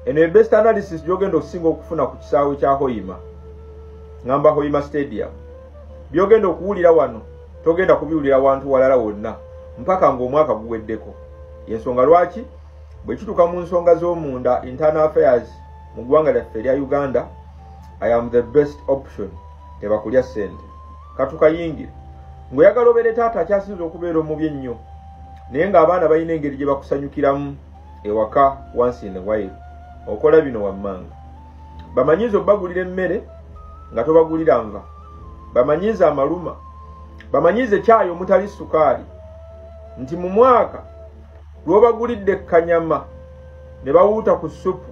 eno ebest analysis gyogenda okusinga okufuna ku kisaawe kya hoima ngamba hoima stadium byogenda okuwulira wano togenda kubiwulira wantu walala wonna mpaka ngaomwaka guweddeko yensonga lwaki bwekituka mu nsonga z'omunda internal affairs mu ggwanga lyaffe erya uganda i am the best option tebakulya sente katukayingire ngaoyagala obeere taata akyasinza okubeera omubi ennyo naye ng'abaana balina engeri gye bakusanyukiramu ewaka once in a while okola bino wammanga bamanyiiza okubagulira emmere nga tobagulira nva bamanyiiza amaluma bamanyiiza ekyayi omutali sukaali nti mu mwaka lwobagulidde kanyama ne bawuuta ku supu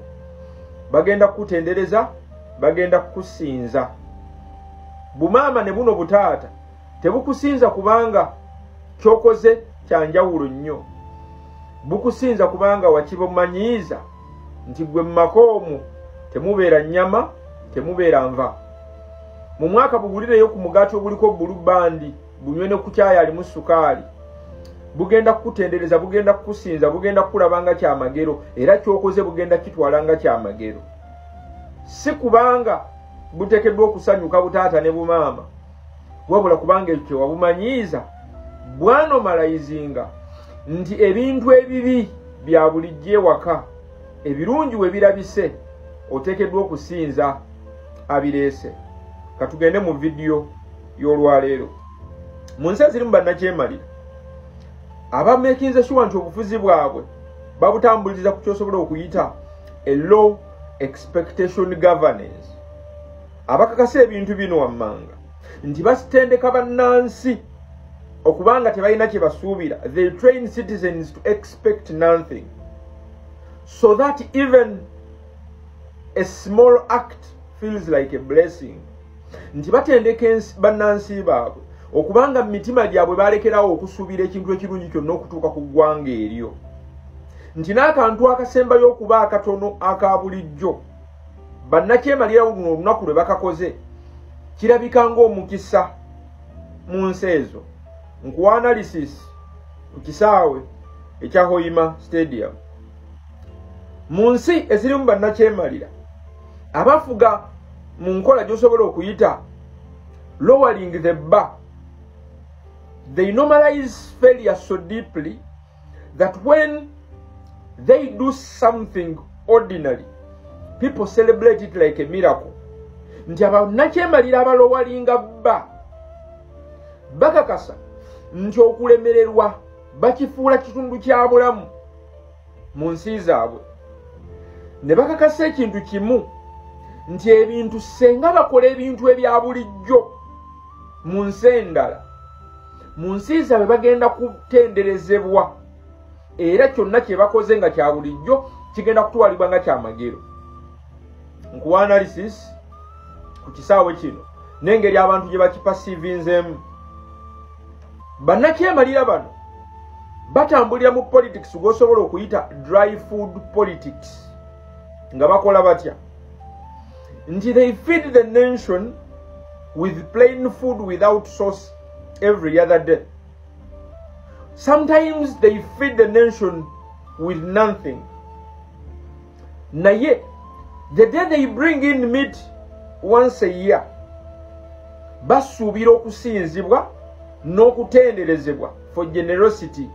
bagenda kukutendereza bagenda kukusinza bumaama ne buno butaata tebukusinza kubanga kyokoze kyanjawulo nnyo bukusinza kubanga wakibumanyiiza nti gwe mumaka omwo temubeera nyama temubeera nva mu mwaka bugulireyo ku mugaati oguliko bulu bandi bunywe ne kukyaya alimu sukaali bugenda kukutendereza bugenda kukusinza bugenda kukulaba nga kyamagero era kyokoze bugenda kitwala nga kyamagero si kubanga butekeddwa okusanyuka butaata ne bumaama wabula kubanga ekyo wabumanyiiza bwanomalayizinga nti ebintu ebibi bya bulijjo ewaka ebirungi we birabise oteekeddwa okusinza abireese katugende mu vidiyo y'olwaleero mu nsi ezirimu bannakyemalira abamekinze shuwa nti obufuzi bwabwe babutambuliza ku kyosobola okuyita a low expectation governance abakakasa ebintu bino wammanga nti basitendeka bannansi okubanga tebalina kye basuubira they train citizens to expect nothing so that even a small act feels like a blessing nti batendeka bannansi baabwe okubanga mu mitima gyabwe balekerawo okusuubira ekintu ekirungi kyonna okutuuka ku ggwanga eryo nti n'akantu akasembayo okuba akatono aka bulijjo bannakyemalirawo luno olunaku lwe bakakoze kirabika ng'omukisa mu nsi ezo nkuwa analysis ku kisaawe ekya hoima stadium mu nsi ezirimu bannakyemalira abafuga mu nkola gy'osobola okuyita lowering the bar they normalize failure so deeply that when they do something ordinary people celebrate it like a miracle nti abanakyemalira abalowalinga bba bakakasa nti okulemererwa bakifuula kitundu kya bulamu mu nsi zaabwe ne bakakasa ekintu kimu nti ebintu senga bakola ebintu ebya bulijjo mu nsi endala mu nsi zaabwe bagenda kutenderezebwa era kyonna kye bakoze nga kya bulijjo kigenda kutwalibwa nga kyamagero nkuwa analysis ku kisaawe kino n'engeri abantu gye bakipasivinzeemu bannakyemalira bano batambulira mu politics gwosobola okuyita dry food politics nga bakola batya nti they feed the nation with plain food without sauce every other day sometimes they feed the nation with nothing naye the day they bring in meat once a year basuubira okusinzibwa n'okutenderezebwa for generosity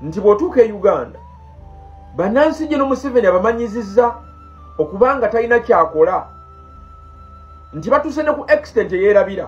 nti bw'otuuka e uganda bannansi gino museveni abamanyizizza okubanga talina kyakola nti batuuse ne ku extent eyeerabira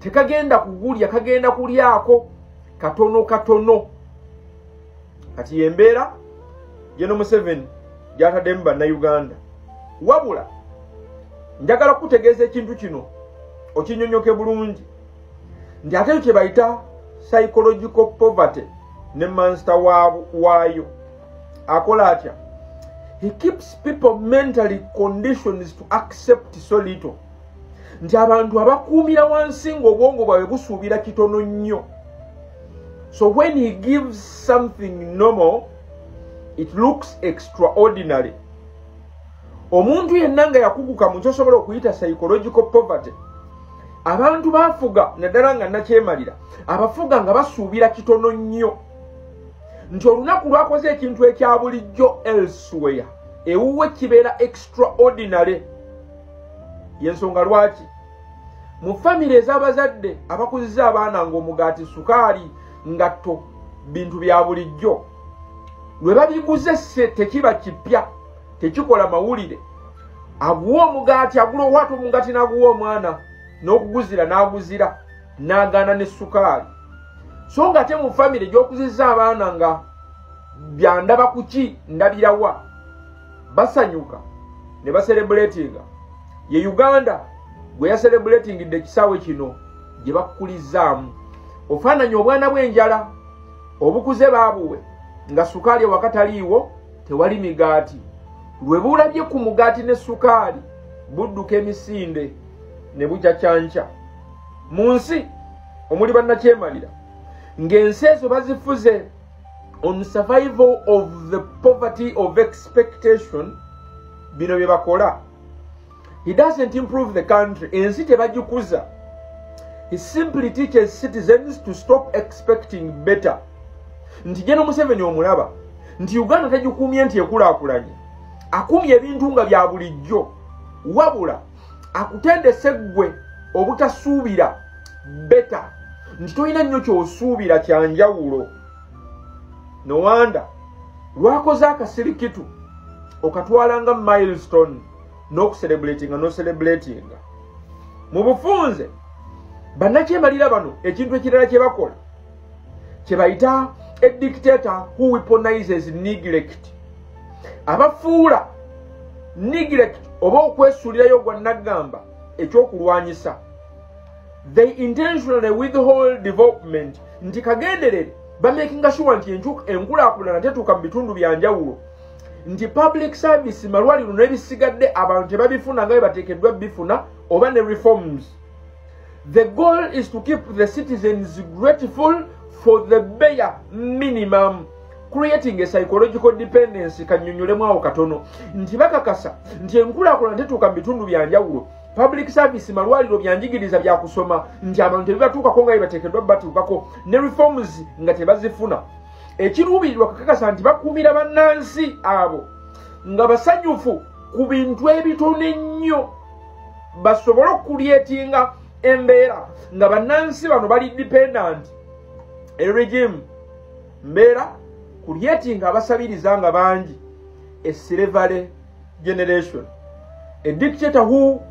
tekagenda kugulya kagenda kulyako katono katono kati yembeera yeno museveni gyataddemu bannauganda wabula njagala kukutegeeza ekintu kino okinyonyoke bulungi nti ate ekyo kyebayita psychological poverty ne mansta waayo akola atya he keeps people mentally conditions to accept so little nti abantu abakuumira wansi ng'obwongo bwawe busuubira kitono nnyo so when he gives something normal it looks extraordinary omuntu yenna nga yakuguka mu kyosobola okuyita psychological poverty abantu bafuga naddala nga nakyemalira abafuga nga basuubira kitono nnyo nti olunaku lwakoze ekintu ekya bulijjo elsewere ewuwe kibeera extraordinary yensonga lwaki mu famire ez'abazadde abakuziza abaana ng'omugaati sukaali ngatto bintu bya bulijjo lwe babiguze se tekiba kipya tekikola mawulire aguwa omugaati agula owata omugaati n'aguwa omwana n'okuguzira n'aguzira n'agaana ne sukaali so nga te mu famire gy'okuziza abaana nga byandaba kuki ndabirawa basanyuka ne baserebuletinga ye uganda gwe yaserebuletingidde ekisaawe kino gye bakukulizzaamu ofaananya obwana bw'enjala obukuze baabuwe nga sukaali ewakataliiwo tewali migaati lwe bulabye ku mugaati ne sukaali budduka emisinde ne bucacyanca mu nsi omuli bannakyemalira ng'ensi ezo bazifuze on survival of the poverty of expectation bino bye bakola he doesn't improve the country ensi tebagikuza he simply teaches citizens to stop expecting better nti jeno museveni omulaba nti uganda tagikuumye nti ekulakulanye akuumye ebintu nga bya bulijjo wabula akutendese ggwe obutasuubira beta nti tolina nnyo kyosuubira kya njawulo nowanda lwakoze akasirikitu okatwala nga milestone n'okuserebulatinga noserebulatinga mu bufunze bannakyemalira bano ekintu ekirala kye bakola kyebayita a dictator who weaponizes neglect abafuula neglect oba okwesuulirayo gwa naggamba ekyokulwanyisa they intentionally withhold development nti kagenderere bamakinga sure nti enkulakulana tetuuka mu bitundu bya njawulo nti public service malwaliro nebisigadde abantu tebabifuna nga bebatekeddwa bifuna oba ne reforms The goal is to keep the citizens grateful for the bare minimum creating a psychological dependency kanyonyolemu awo katono nti bakakasa nti enkulaakulana tetuuka mu bitundu bya njawulo public service malwaliro byanjigiriza byakusoma nti abantu tebibatuukako nga bebateekeddwa batuukako ne reforms nga tebazifuna ekiruubirirwa kakakasa nti bakuumira bannansi abo nga basanyufu ku bintu ebitono ennyo basobole okukulyetinga embeera nga bannansi bano bali dependant eregimu mbeera kulyetinga abasabiriza nga bangi esilevale generation a dictator who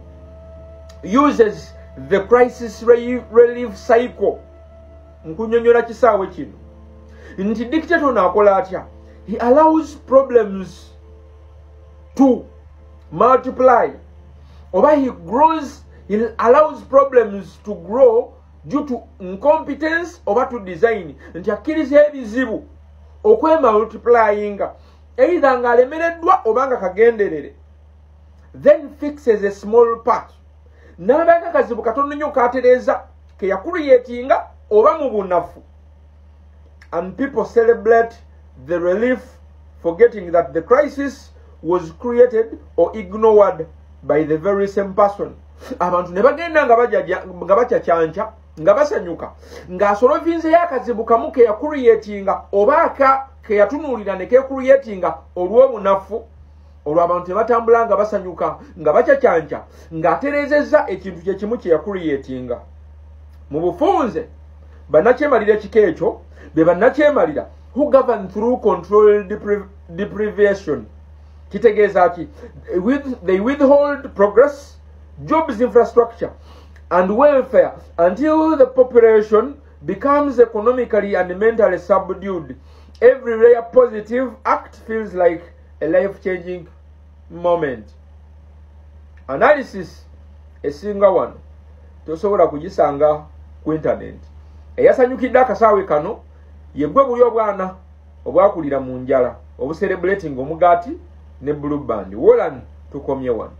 uses the crisis relief cycle nkunyonyola kisaawe kino nti dictator ono akola atya he allows problems to multiply oba he grows he allows problems to grow due to incompetence oba to design nti akkiriza ebizibu okwemultiplyinga eitha nga alemereddwa oba nga kagenderere then fixes a small part n'abaga kazibu katono nnyo katereeza keyakuliyetinga oba mu bunafu and people celebrate the relief forgetting that the crisis was created or ignored by the very same person abantu ne bagenda nga bakyakyanca nga basanyuka ng'asolovinzeyo akazibu kamu ke yakuriyetinga oba aka ke yatunuulira ne kekuriyetinga olw'obunafu olwo abantu tebatambula nga basanyuka nga bacacanca ng'atereezezza ekintu kye kimu kye yakuriyetinga mu bufunze bannakyemalira ekika ekyo be bannakyemalira who govern through control deprivation kitegeeza ki they withhold progress jobs infrastructure and welfare until the population becomes economically and mentally subdued every rare positive act feels like a life changing moment analysis esinga wano tosobola kugisanga ku internet eyasanyukidde akasaawe kano yegwe buli obwana obwakulira mu njala obuserebulating omugaati ne blue band wolan tukomye wano